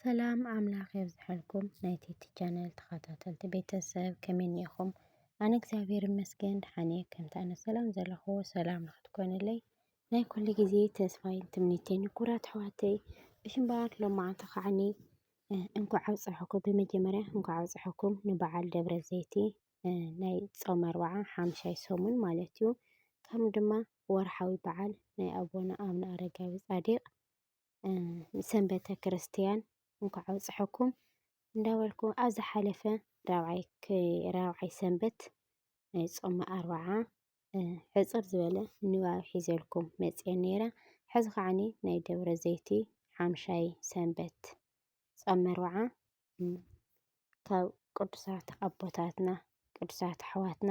ሰላም ኣምላኽ የብዝሐልኩም ናይ ቲቲ ቻነል ተኸታተልቲ ቤተሰብ ከመይ እኒኢኹም? ኣነ እግዚኣብሔር ይመስገን ደሓን እየ። ከምቲ ኣነ ሰላም ዘለኹዎ ሰላም ንክትኮንለይ ናይ ኩሉ ግዜ ተስፋይን ትምኒተይን ኩራት ኣሕዋተይ ብሽምበኣር ሎማዓንቲ ከዓኒ እንኳዕ ኣብፀሐኩም ብመጀመርያ እንኳዕ ኣብፀሐኩም ንበዓል ደብረ ዘይቲ ናይ ፆመ ኣርብዓ ሓምሻይ ሰሙን ማለት እዩ። ከም ድማ ወርሓዊ በዓል ናይ ኣቦና ኣብነ ኣረጋዊ ፃዲቅ ሰንበተ ክርስትያን እንኳዕ ኣብፀሐኩም እንዳበልኩ ኣብ ዝሓለፈ ራብዓይ ሰንበት ናይ ፆመ ኣርብዓ ሕፅር ዝበለ ንባብ ሒዘልኩም መፅየ ነይረ። ሕዚ ከዓኒ ናይ ደብረ ዘይቲ ሓምሻይ ሰንበት ፆመ ኣርብዓ ካብ ቅዱሳት ኣቦታትና ቅዱሳት ኣሕዋትና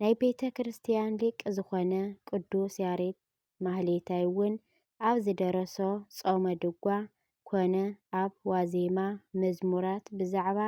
ናይ ቤተ ክርስቲያን ሊቅ ዝኾነ ቅዱስ ያሬድ ማህሌታይ እውን ኣብ ዝደረሶ ጾመ ድጓ ኮነ ኣብ ዋዜማ መዝሙራት ብዛዕባ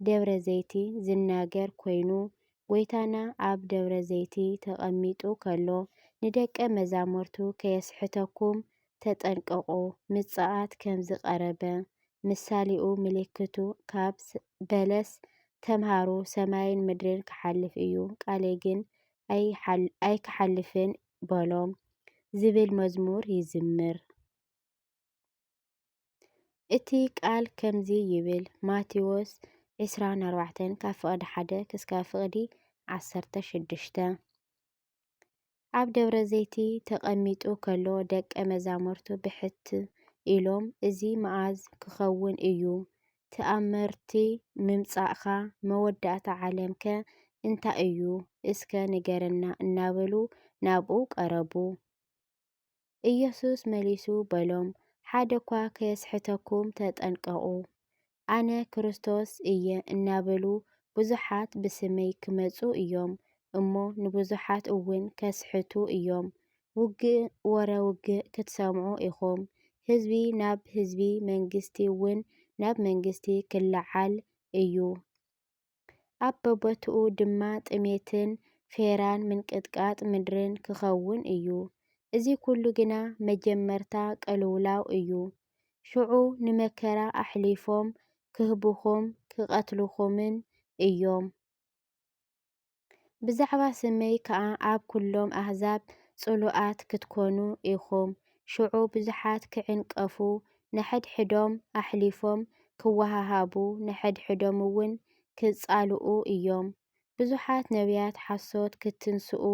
ደብረ ዘይቲ ዝናገር ኮይኑ ጎይታና ኣብ ደብረ ዘይቲ ተቀሚጡ ከሎ ንደቀ መዛሙርቱ ከየስሕተኩም ተጠንቀቑ ምጽኣት ከምዝቐረበ ምሳሌኡ ምልክቱ ካብ በለስ ተምሃሩ ሰማይን ምድርን ክሓልፍ እዩ ቃሌ ግን ኣይክሓልፍን በሎም ዝብል መዝሙር ይዝምር። እቲ ቃል ከምዚ ይብል ማቴዎስ 24 ካብ ፍቕዲ 1 ክስካብ ፍቕዲ 16 ኣብ ደብረ ዘይቲ ተቐሚጡ ከሎ ደቀ መዛሙርቱ ብሕት ኢሎም እዚ መኣዝ ክኸውን እዩ? ትኣምርቲ ምምጻእካ መወዳእታ ዓለም ከ እንታይ እዩ እስከ ንገረና እናበሉ ናብኡ ቀረቡ። ኢየሱስ መሊሱ በሎም፣ ሓደ እኳ ከየስሕተኩም ተጠንቀቑ። ኣነ ክርስቶስ እየ እናበሉ ብዙሓት ብስመይ ክመጹ እዮም እሞ ንብዙሓት እውን ከስሕቱ እዮም። ውግእ ወረ ውግእ ክትሰምዑ ኢኹም፣ ህዝቢ ናብ ህዝቢ መንግስቲ እውን ናብ መንግስቲ ክለዓል እዩ። ኣብ በቦትኡ ድማ ጥሜትን ፌራን ምንቅጥቃጥ ምድርን ክኸውን እዩ። እዚ ኩሉ ግና መጀመርታ ቅልውላው እዩ። ሽዑ ንመከራ ኣሕሊፎም ክህቡኹም ክቐትሉኹምን እዮም። ብዛዕባ ስመይ ከኣ ኣብ ኩሎም ኣህዛብ ጽሉኣት ክትኮኑ ኢኹም። ሽዑ ብዙሓት ክዕንቀፉ ንሕድሕዶም ኣሕሊፎም ኪወሃሃቡ፣ ንሕድሕዶም እውን ኪጻልኡ እዮም። ብዙሓት ነብያት ሓሶት ኪትንስኡ፣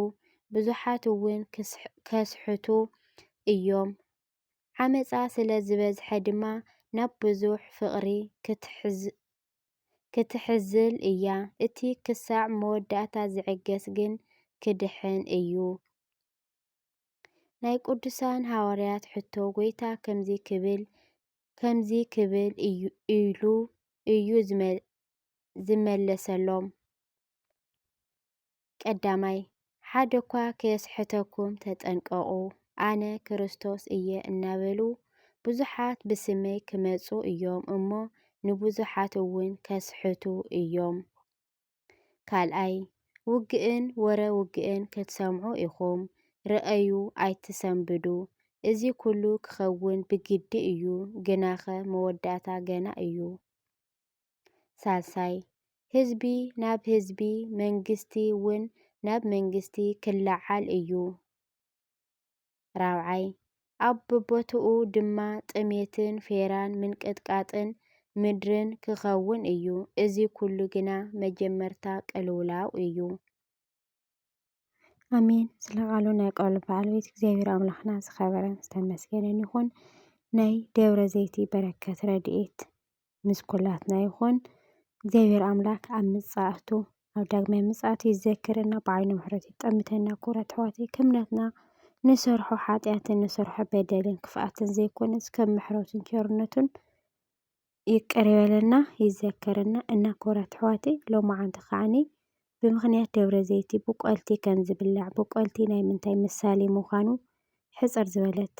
ብዙሓት እውን ኬስሕቱ እዮም። ዓመጻ ስለ ዝበዝሐ ድማ፣ ናብ ብዙሕ ፍቕሪ ክትሕዝል እያ። እቲ ኽሳዕ መወዳእታ ዚዕገስ ግን ኪድሕን እዩ። ናይ ቅዱሳን ሃዋርያት ሕቶ ጐይታ ከምዚ ክብል ከምዚ ክብል ኢሉ እዩ ዝመለሰሎም፣ ቀዳማይ፣ ሓደ እኳ ከየስሕተኩም ተጠንቀቑ፣ ኣነ ክርስቶስ እየ እናበሉ ብዙሓት ብስመይ ክመጹ እዮም እሞ ንብዙሓት እውን ከስሕቱ እዮም። ካልኣይ ውግእን ወረ ውግእን ክትሰምዑ ኢኹም ርኣዩ ኣይትሰንብዱ እዚ ኩሉ ክኸውን ብግዲ እዩ ግናኸ መወዳእታ ገና እዩ ሳልሳይ ህዝቢ ናብ ህዝቢ መንግስቲ ውን ናብ መንግስቲ ክለዓል እዩ። ራብዓይ፣ ኣብ በቦትኡ ድማ ጥሜትን ፌራን ምንቅጥቃጥን ምድርን ክኸውን እዩ። እዚ ኩሉ ግና መጀመርታ ቅልውላው እዩ። ኣሜን። ስለ ቃሉ ናይ ቃሉ በዓል ቤት እግዚኣብሔር ኣምላኽና ዝኸበረን ዝተመስገነን ይኹን። ናይ ደብረ ዘይቲ በረከት ረድኤት ምስ ኩላትና ይኹን። እግዚኣብሔር ኣምላክ ኣብ ምጽኣቱ ኣብ ዳግማይ ምጽኣቱ ይዘከረና ብዓይኑ ምሕረቱ ይጠምተና ክቡራት ኣሕዋተይ ከም ናትና ንሰርሖ ሓጢኣትን ንሰርሖ በደልን ክፍኣትን ዘይኮነስ ከም ምሕረቱን ቸርነቱን ይቅር ይበለና ይዘከረና እና ክቡራት ኣሕዋተይ ሎማዓንቲ ከዓኒ ብምኽንያት ደብረ ዘይቲ ብቆልቲ ከም ዝብላዕ ብቆልቲ ናይ ምንታይ ምሳሌ ምዃኑ ሕጽር ዝበለት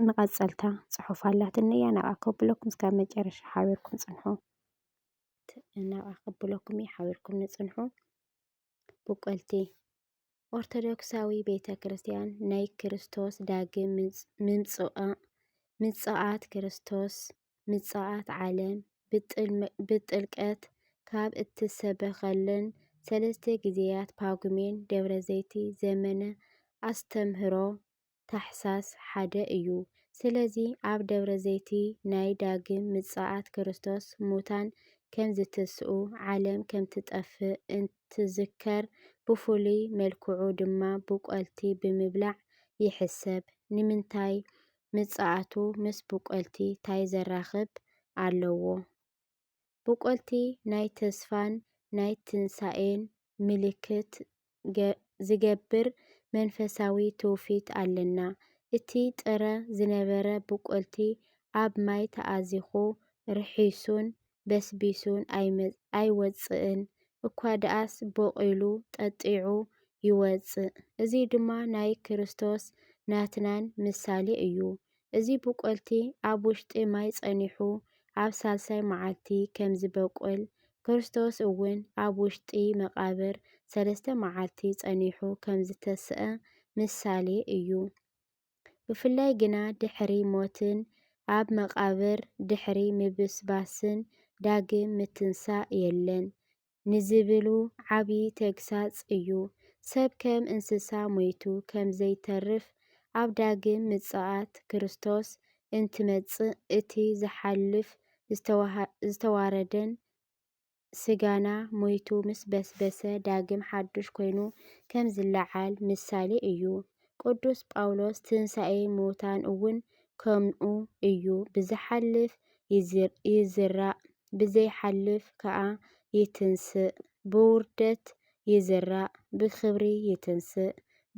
መቐጸልታ ጽሑፍ ኣላትኒ እያ ናብኣ ከብለኩም እስካብ መጨረሻ ሓቢርኩም ጽንሑ ናብኣ ከብለኩም እዩ ሓቢርኩም ንጽንሑ ብቆልቲ ኦርቶዶክሳዊ ቤተ ክርስቲያን ናይ ክርስቶስ ዳግም ምጽኣት ክርስቶስ ምጽኣት ዓለም ብጥልቀት ካብ እትሰበኸለን ሰለስተ ግዜያት ፓጉሜን ደብረ ዘይቲ ዘመነ ኣስተምህሮ ታኅሣሥ ሓደ እዩ። ስለዚ ኣብ ደብረ ዘይቲ ናይ ዳግም ምጽኣት ክርስቶስ ሙታን ከም ዚትስኡ፣ ዓለም ከም ትጠፍእ እንትዝከር፣ ብፍሉይ መልክዑ ድማ ብቈልቲ ብምብላዕ ይሕሰብ። ንምንታይ? ምጽኣቱ ምስ ብቈልቲ ታይ ዘራኽብ ኣለዎ? ብቆልቲ ናይ ተስፋን ናይ ትንሳኤን ምልክት ዚገብር መንፈሳዊ ትውፊት ኣለና። እቲ ጥረ ዝነበረ ብቆልቲ ኣብ ማይ ተኣዚኹ ርሒሱን በስቢሱን ኣይወጽእን፣ እኳ ደኣስ ቦቒሉ ጠጢዑ ይወጽእ። እዚ ድማ ናይ ክርስቶስ ናትናን ምሳሌ እዩ። እዚ ብቆልቲ ኣብ ውሽጢ ማይ ጸኒሑ ኣብ ሳልሳይ መዓልቲ ከም ዚበቍል፣ ክርስቶስ እውን ኣብ ውሽጢ መቓብር ሰለስተ መዓልቲ ጸኒሑ ከም ዚተስኣ ምሳሌ እዩ። ብፍላይ ግና ድሕሪ ሞትን ኣብ መቓብር ድሕሪ ምብስባስን ዳግም ምትንሳእ የለን። ንዝብሉ ዓቢ ተግሳጽ እዩ። ሰብ ከም እንስሳ ሞይቱ ከም ዘይተርፍ፣ ኣብ ዳግም ምጽኣት ክርስቶስ እንትመጽእ እቲ ዝሓልፍ ዝተዋረደን ስጋና ሞይቱ ምስ በስበሰ ዳግም ሓዱሽ ኮይኑ ከም ዝለዓል ምሳሌ እዩ። ቅዱስ ጳውሎስ ትንሳኤ ምዉታን እውን ከምኡ እዩ ብዝሓልፍ ይዝራእ ብዘይሓልፍ ከኣ ይትንስእ፣ ብውርደት ይዝራእ ብኽብሪ ይትንስእ፣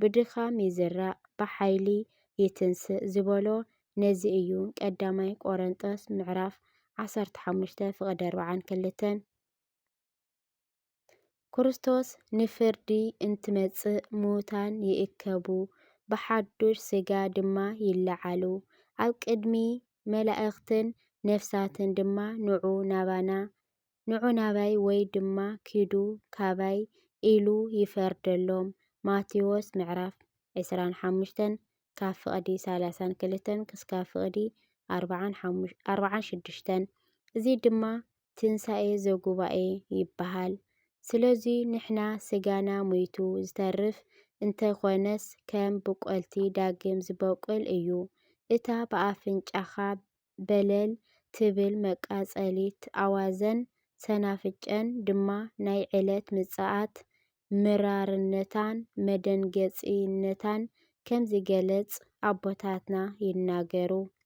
ብድኻም ይዝራእ ብሓይሊ ይትንስእ ዝበሎ ነዚ እዩ፣ ቀዳማይ ቆረንጦስ ምዕራፍ ዓሰርተ ሓሙሽተ ፍቅዲ ኣርብዓን ክልተን። ክርስቶስ ንፍርዲ እንትመጽእ ምዉታን ይእከቡ፣ ብሓዱሽ ስጋ ድማ ይለዓሉ፣ ኣብ ቅድሚ መላእኽትን ነፍሳትን ድማ ንዑ ናባና፣ ንዑ ናባይ ወይ ድማ ኪዱ ካባይ ኢሉ ይፈርደሎም፣ ማቴዎስ ምዕራፍ ዕስራን ሓሙሽተን ካብ ፍቕዲ ሰላሳን ክልተን ክስካብ ፍቕዲ ኣርባዓን ሽዱሽተን እዚ ድማ ትንሳኤ ዘጉባኤ ይበሃል። ስለዙይ ንሕና ስጋና ሙይቱ ዝተርፍ እንተይኮነስ ከም ብቆልቲ ዳግም ዝበቁል እዩ። እታ ብኣፍንጫኻ በለል ትብል መቃፀሊት ኣዋዘን ሰናፍጨን ድማ ናይ ዕለት ምፅኣት ምራርነታን መደንገፂነታን ከምዝገለፅ ኣቦታትና ይናገሩ።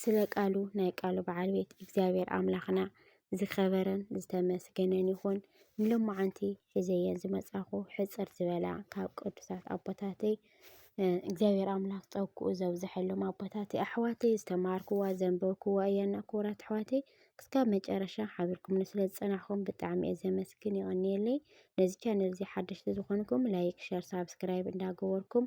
ስለ ቃሉ ናይ ቃሉ በዓል ቤት እግዚኣብሔር ኣምላኽና ዝኸበረን ዝተመስገነን ይኹን። ንሎማዓንቲ ሒዘዮ ዝመፃኹ ሕፅር ዝበላ ካብ ቅዱሳት ኣቦታተይ እግዚኣብሔር ኣምላኽ ፀግኡ ዘብዝሐሎም ኣቦታተይ ኣሕዋተይ ዝተማሃርክዋ ዘንበብክዋ እያ እና ክቡራት ኣሕዋተይ ክስካብ መጨረሻ ሓቢርኩምኒ ስለ ዝፀናሕኩም ብጣዕሚ እየ ዘመስግን ይቐንየለይ። ነዚ ቻነል እዚ ሓደሽቲ ዝኾንኩም ላይክ፣ ሸር፣ ሳብስክራይብ እንዳገበርኩም